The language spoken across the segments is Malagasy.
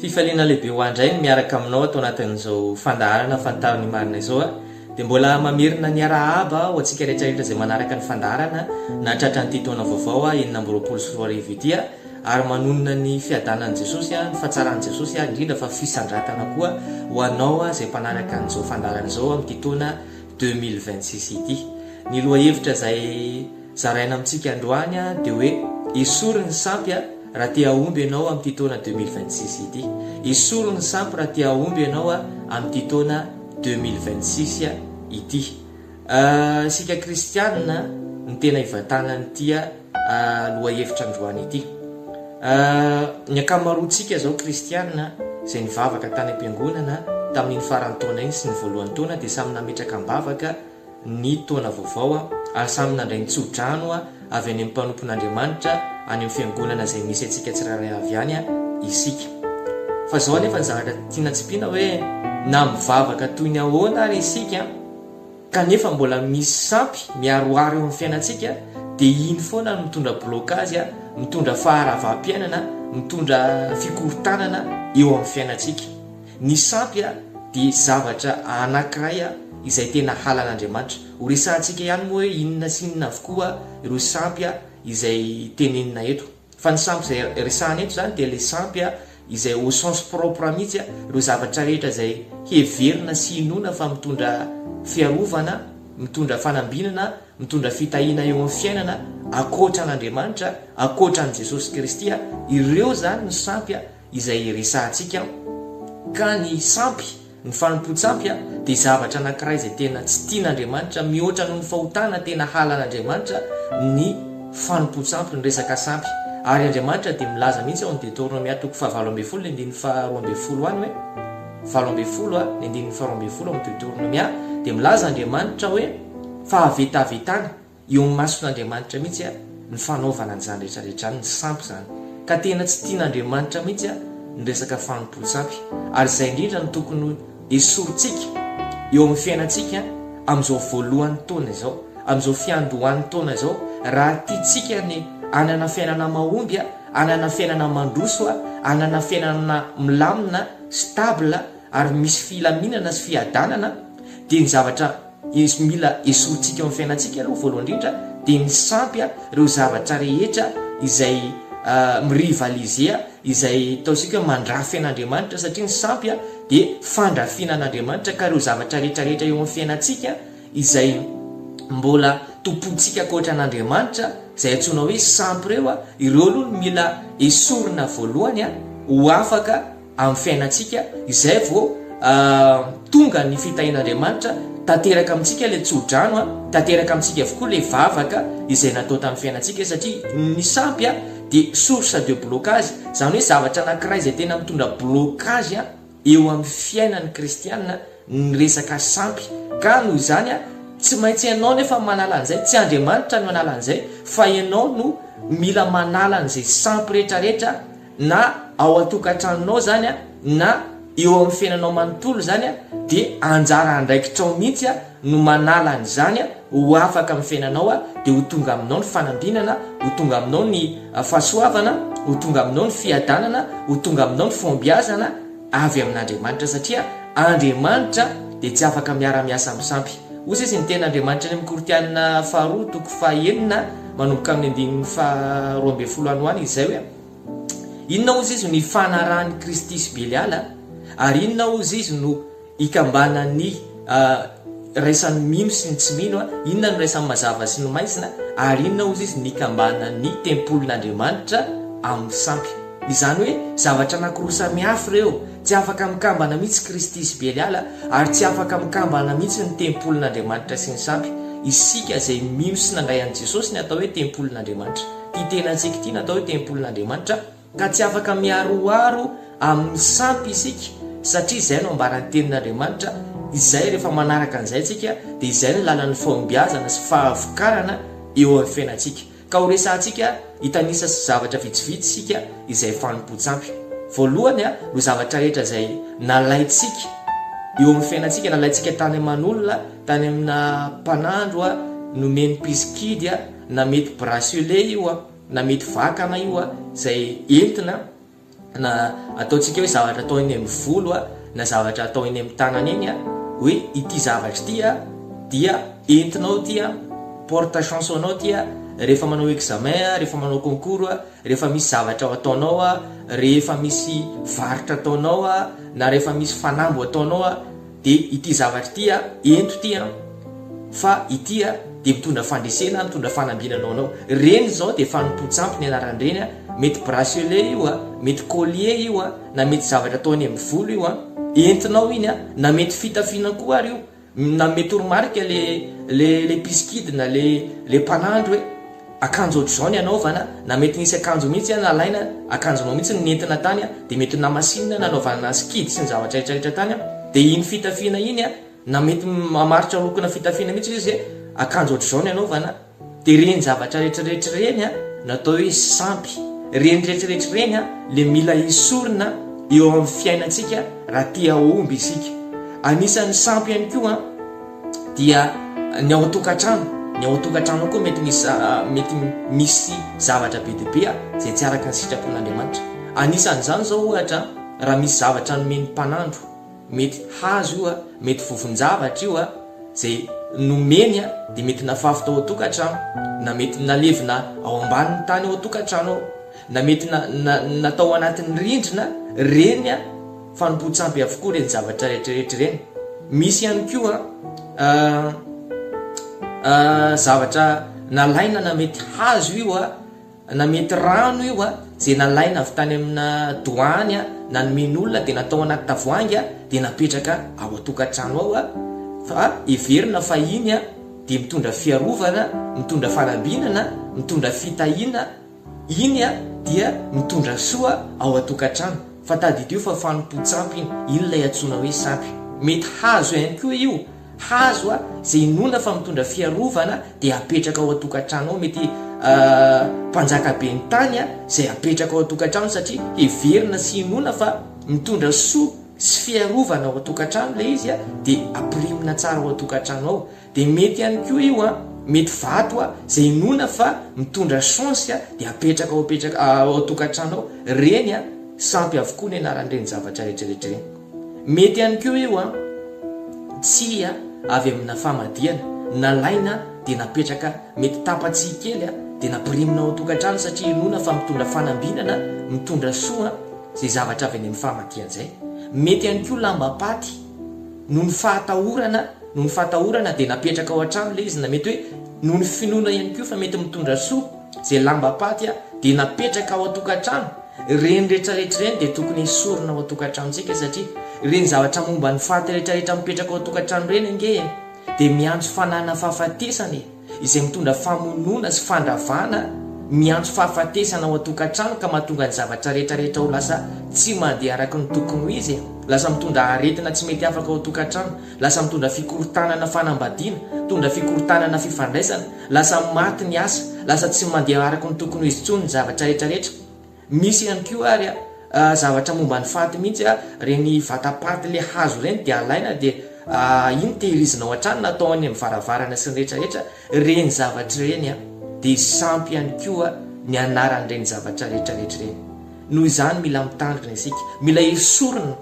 Fifaliana lehibe ho ahy indray ny miaraka aminao ato anatin'izao fandaharana Fantaro ny Marina izao a! Dia mbola mamerina ny arahaba ho antsika rehetra rehetra izay manaraka ny fandaharana na tratran'ity taona vaovao a enina amby roapolo sy roa arivo ity a! Ary manonona ny fiadanan'i Jesosy a, ny fatsaran'i Jesosy a, indrindra fa fisandratana koa ho anao a izay mpanaraka an'izao fandaharana izao amin'ity taona deux mille vingt six ity. Ny lohahevitra izay. Zaraina amintsika androany dia hoe esory ny sampy raha te hahomby ianao amin'ity taona deux mille vingt six ity. Esory ny sampy raha te hahomby ianao amin'ity taona deux mille vingt six ity. Isika kristianina no tena ivantanan'ity lohahevitra androany ity. Ny ankamaroantsika izao kristianina izay nivavaka tany am-piangonana tamin'iny faran'ny taona iny sy ny voalohan'ny taona dia samy nametraka am-bavaka ny taona vaovao ary samy nandray ny tso-drano avy any amin'ny mpanompon'Andriamanitra any amin'ny fiangonana izay misy antsika tsirairay avy any isika. Fa izao anefa ny zavatra tiana tsipiana hoe na mivavaka toy ny ahoana ary isika kanefa mbola misy sampy miaroaro eo amin'ny fiainantsika dia iny foana no mitondra blocage, mitondra faharavam-piainana, mitondra fikorontanana eo amin'ny fiainantsika. Ny sampy dia zavatra anankiray izay tena halan'Andriamanitra. Ho resahantsika ihany moa hoe inona sy inona avokoa ireo sampy izay tenenina eto. Fa ny sampy izay resahana eto izany dia ilay sampy izay au sens propre mihitsy, ireo zavatra rehetra izay heverina sy inoana fa mitondra fiarovana, mitondra fanambinana, mitondra fitahiana eo amin'ny fiainana, ankoatra an'Andriamanitra, ankoatra an'i Jesosy Kristy, ireo izany ny sampy. izay resahantsika ka ny sampy, ny fanompoan-tsampy dia zavatra anankiray izay tena tsy tian'Andriamanitra mihoatra noho ny fahotana tena halan'Andriamanitra ny fanompoan-tsampy, ny resaka sampy ary Andriamanitra dia milaza mihitsy ao amin'ny Deteronomia toko fahavalo ambin'ny folo ny andininy faharoa ambin'ny folo any hoe valo ambin'ny folo a ny andininy faharoa ambin'ny folo ao amin'ny Deteronomia dia milaza Andriamanitra hoe fahavetavetana Eo amin'ny mason'Andriamanitra mihitsy ny fanaovana an'izany rehetra rehetra izany, ny sampy izany. Ka tena tsy tian'Andriamanitra mihitsy ny resaka fanompoan-tsampy. Ary izay indrindra no tokony hesorintsika eo amin'ny fiainantsika amin'izao voalohan'ny taona izao, amin'izao fiandohan'ny taona izao, raha tiantsika ny hanana fiainana mahomby, hanana fiainana mandroso, hanana fiainana milamina, stable, ary misy filaminana sy fiadanana, dia ny zavatra. Izy mila esorintsika eo amin'ny fiainantsika aloha voalohany indrindra dia ny sampy ireo zavatra rehetra izay mi rivaliser izay ataontsika hoe mandrafy an'Andriamanitra satria ny sampy dia fandrafiana an'Andriamanitra ka ireo zavatra rehetra rehetra eo amin'ny fiainantsika izay mbola tompointsika ankoatra an'Andriamanitra izay antsoina hoe sampy ireo ireo aloha no mila esorina voalohany ho afaka amin'ny fiainantsika, izay vao tonga ny fitahian'Andriamanitra tanteraka amintsika ilay tsodrano, tanteraka amintsika avokoa ilay vavaka izay natao tamin'ny fiainantsika, satria ny sampy dia source de blocage, izany hoe zavatra anankiray izay tena mitondra blocage eo amin'ny fiainan'ny kristiana ny resaka sampy, ka noho izany tsy maintsy ianao nefa manala an'izay, tsy Andriamanitra no hanala an'izay fa ianao no mila manala an'izay sampy rehetrarehetra na ao an-tokantranonao izany na eo amin'ny fiainanao manontolo izany dia anjara andraikitrao mihitsy no manala an'izany ho afaka amin'ny fiainanao dia ho tonga aminao ny fanambinana, ho tonga aminao ny fahasoavana, ho tonga aminao ny fiadanana, ho tonga aminao ny fahombiazana avy amin'Andriamanitra satria Andriamanitra dia tsy afaka miara-miasa amin'ny sampy. Hoy sisa ny teny Andriamanitra any amin'ny Korintiana faharoa toko fahenina manomboka amin'ny andininy faharoa ambin'ny folo any ho any izay hoe. Inona ozy izy no ifanarahan'i Kristy sy Beliala ary inona ozy izy no ikambanan'ny iraisan'ny mino sy ny tsy mino, inona no iraisan'ny mazava sy ny maizina ary inona ozy izy no ikambanan'ny tempolin'Andriamanitra amin'ny sampy. Izany hoe zavatra anankiroa samihafa ireo, tsy afaka mikambana mihitsy Kristy sy Beliala ary tsy afaka mikambana mihitsy ny tempolin'Andriamanitra sy ny sampy. Isika izay mino sy nandray an'i Jesosy ny atao hoe tempolin'Andriamanitra. Ity tenantsika ity natao hoe tempolin'Andriamanitra ka tsy afaka miaroaro amin'ny sampy isika satria izay no ambaran'ny tenin'Andriamanitra izay rehefa manaraka an'izay tsika dia izay ny lalan'ny fahombiazana sy fahavokarana eo amin'ny fiainantsika ka ho resahantsika hitanisa zavatra vitsivitsy isika izay fanompoan-tsampy voalohany no zavatra rehetra izay nalaintsika eo amin'ny fiainantsika nalaintsika tany aman'olona tany amina mpanandro nomeny mpisikidy na mety bracelet io a, na mety vakana io a, izay entina na ataontsika hoe zavatra atao eny amin'ny volo a, na zavatra atao eny amin'ny tanana eny a, hoe ity zavatra ity a, dia entinao ity a, porte chance ho anao ity a, rehefa manao examen a, rehefa manao concours a, rehefa misy zavatra ho ataonao a, rehefa misy varotra ataonao a, na rehefa misy fanamby ho ataonao a, de ity zavatra ity a, ento ity an, fa ity a de mitondra fandresena, mitondra fanambinana ho anao, reny zao de fanompoan-tsampy ny anaran'ireny a, mety bracelet io a, mety collier io a, na mety zavatra atao any amin'ny volo io a, entinao iny a, na mety fitafiana koa ary io, na mety toromarika le le le mpisikidina, le le mpanandro e. Akanjo ohatr'izao ny anaovana, na mety nisy akanjo mihitsy an, alaina akanjonao mihitsy no nentina tany an, dia mety namasinina nanaovana azy kidy sy ny zavatra rehetra rehetra tany an, dia iny fitafiana iny an, na mety mamaritra lokona fitafiana mihitsy ilay izy hoe akanjo ohatr'izao ny anaovana, dia ireny zavatra rehetra rehetra ireny an no atao hoe sampy, ireny rehetra rehetra ireny an ilay mila esorina eo amin'ny fiainantsika raha te hahomby isika, anisan'ny sampy ihany koa an. dia ny ao an-tokantrano, ny ao an-tokantrano koa mety misy mety misy zavatra be dia be izay tsy araka ny sitrapon'Andriamanitra. Anisan'izany izao ohatra raha misy zavatra nomen'ny mpanandro, mety hazo io, mety vovon-javatra io izay nomeny dia mety nafafy tao an-tokantrano, na mety nalevina ao ambanin'ny tany ao an-tokantrano ao, na mety natao anatin'ny rindrina ireny. Fanompoan-tsampy avokoa ireny zavatra rehetrarehetra ireny. Misy ihany koa zavatra nalaina na mety hazo io na mety rano io a, izay nalaina avy tany amina doany a, na nomen'olona dia natao anaty tavoahangy a, dia napetraka ao an-tokantrano ao a, fa heverina fa iny a dia mitondra fiarovana, mitondra fanambinana, mitondra fitahiana, Iny dia mitondra soa ao an-tokantrano, fa tadidio fa fanompoan-tsampy iny, iny ilay antsoina hoe sampy. Mety hazo ihany koa io, hazo izay inoana fa mitondra fiarovana dia apetraka ao an-tokantrano ao, mety mpanjaka ben'ny tany izay apetraka ao an-tokantrano satria heverina sy inoana fa mitondra soa sy fiarovana ao an-tokantrano ilay izy dia ampirimina tsara ao an-tokantrano ao. Dia mety ihany koa io an, mety vato an, izay inoana fa mitondra chance an, dia apetraka ao apetraka ao tokantrano ao, ireny an, sampy avokoa ny anaran'ireny zavatra rehetra rehetra ireny. Mety ihany koa io an, tsia avy amina famadihana, nalaina dia napetraka mety tapa-tsihy kely an, dia nampirimina ao tokantrano satria inoana fa mitondra fanambinana, mitondra soa an, izay zavatra avy any amin'ny famadihana izay. Mety ihany koa lambam-paty noho ny fahatahorana. Noho ny fahatahorana dia napetraka ao an-trano ilay izy na mety hoe noho ny finoana ihany koa fa mety mitondra soa izay lambam-paty aho dia napetraka ao an-tokantrano. Ireny rehetra rehetra ireny dia tokony hesorina ao an-tokantranontsika satria ireny zavatra momba ny faty rehetra rehetra mipetraka ao an-tokantrano ireny ange dia miantso fananana fahafatesana e! izay mitondra famonoana sy fandravana miantso fahafatesana ao an-tokantrano ka mahatonga ny zavatra rehetrarehetra ho lasa tsy mandeha araka ny tokony ho izy e! Lasa mitondra aretina tsy mety afaka ao an-tokantrano, lasa mitondra fikorontanana fanambadiana, mitondra fikorontanana fifandraisana, lasa maty ny asa, lasa tsy mandeha araka ny tokony ho izy intsony ny zavatra rehetrarehetra. Misy ihany koa ary zavatra momba ny faty mihitsy, ireny vatapaty le hazo ireny dia alaina dia iny tehirizina ao an-trano na atao any amin'ny varavarana sy ny rehetra rehetra ireny zavatra ireny dia sampy ihany koa ny anaran'ireny zavatra rehetra rehetra ireny. Noho izany mila mitandrina isika, mila esorina.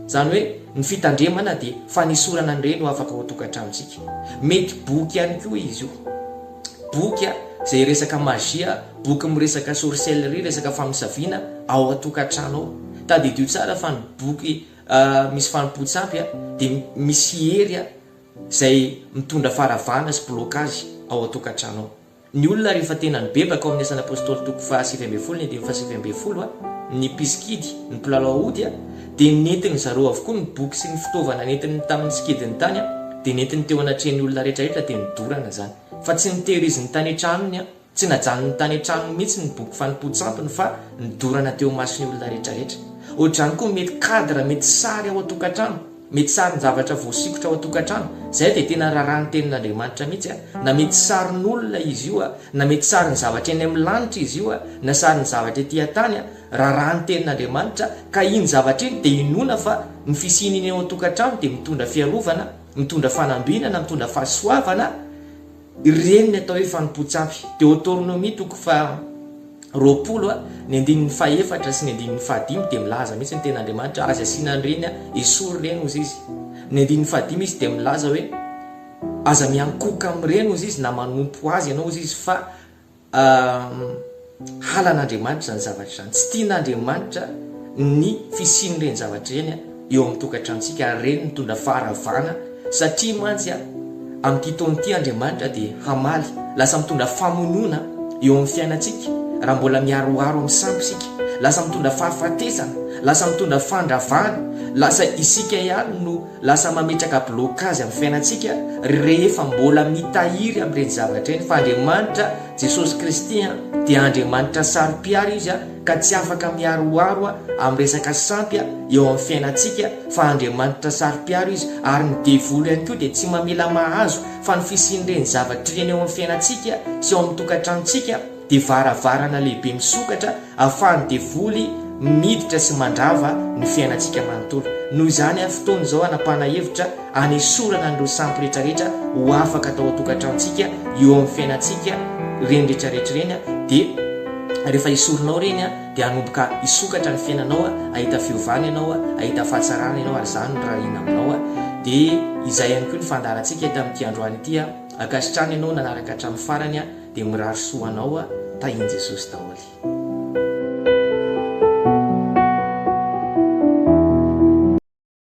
Izany hoe ny fitandremana dia fanesorana an'ireny ho afaka ao an-tokantranontsika. Mety boky ihany koa izy io. Boky izay resaka magie, boky miresaka sorcellerie, resaka famosaviana ao an-tokantrano ao. Tadidio tsara fa ny boky misy fanompoantsy ampy dia misy hery izay mitondra faharavana sy blocage ao an-tokantrano ao. Ny olona rehefa tena nibebaka ao amin'ny Asan'ny Apôstôly toko faha sivy ambin'ny folo ny andininy faha sivy ambin'ny folo, ny mpisikidy, ny mpilalao ody, dia nentin-dry zareo avokoa ny boky sy ny fitaovana nentiny tamin'ny tsikidiny tany, dia nentiny teo anatrehan'ny olona rehetrarehetra dia nidorana izany. Fa tsy notehiriziny tany an-tranony, tsy najanony tany an-tranony mihitsy ny boky fanompoan-tsampiny fa nidorana teo imason'ny olona rehetrarehetra. Hoatr'izany koa mety cadre, mety sary ao an-tokantrano. Mety sarin-javatra voasikotra ao an-tokantrano, izay dia tena raharaha ny Tenin'Andriamanitra mihitsy, na mety sarin'olona izy io, na mety sarin'ny zavatra eny amin'ny lanitra izy io, na sarin'ny zavatra ety an-tany, raharaha ny Tenin'Andriamanitra, ka iny zavatra iny dia inoana fa ny fisian'iny ao an-tokantrano dia mitondra fiarovana, mitondra fanambinana, mitondra fahasoavana, Ireny ny atao hoe fanompoan-tsampy. Deoteronomia toko faha roapolo a, ny andininy faha efatra sy ny andininy faha dimy dia milaza mihitsy ny tena Andriamanitra, aza asiana an'ireny a, esory ireny hozy izy. Ny andininy faha dimy izy dia milaza hoe aza miankohoka amin'ireny hozy izy na manompo azy ianao hozy izy fa Halan'Andriamanitra izany zavatra izany. Tsy tian'Andriamanitra ny fisian'ireny zavatra ireny eo amin'ny tokantranontsika ary ireny mitondra faharavana satria mantsy amin'ity taona ity Andriamanitra dia hamaly. Lasa mitondra famonoana eo amin'ny fiainantsika raha mbola miharoharo amin'ny sampy isika. Lasa mitondra fahafatesana, lasa mitondra fandravana, lasa isika ihany no Lasa mametraka blocage amin'ny fiainantsika rehefa mbola mitahiry amin'ireny zavatra ireny fa Andriamanitra, Jesosy Kristy, dia Andriamanitra saro-piaro Izy ka tsy afaka miharoharo amin'ny resaka sampy eo amin'ny fiainantsika fa Andriamanitra saro-piaro Izy ary ny devoly ihany koa dia tsy mamela mahazo fa ny fisian'ireny zavatra ireny eo amin'ny fiainantsika sy ao amin'ny tokantranontsika dia varavarana lehibe misokatra ahafahan'ny devoly miditra sy mandrava ny fiainantsika manontolo. Noho izany ary fotoana izao hanapahana hevitra hanesorana an'ireo sampy rehetrarehetra ho afaka tao an-tokantranontsika eo amin'ny fiainantsika ireny rehetrarehetra ireny dia rehefa esorinao ireny dia hanomboka hisokatra ny fiainanao hahita fiovana ianao hahita fahatsarana ianao ary izany no rarina aminao dia izay ihany koa ny fandaharantsika eto amin'ity androany ity ankasitrano ianao nanaraka hatramin'ny farany dia mirary soa anao a tahin jesosy daholy.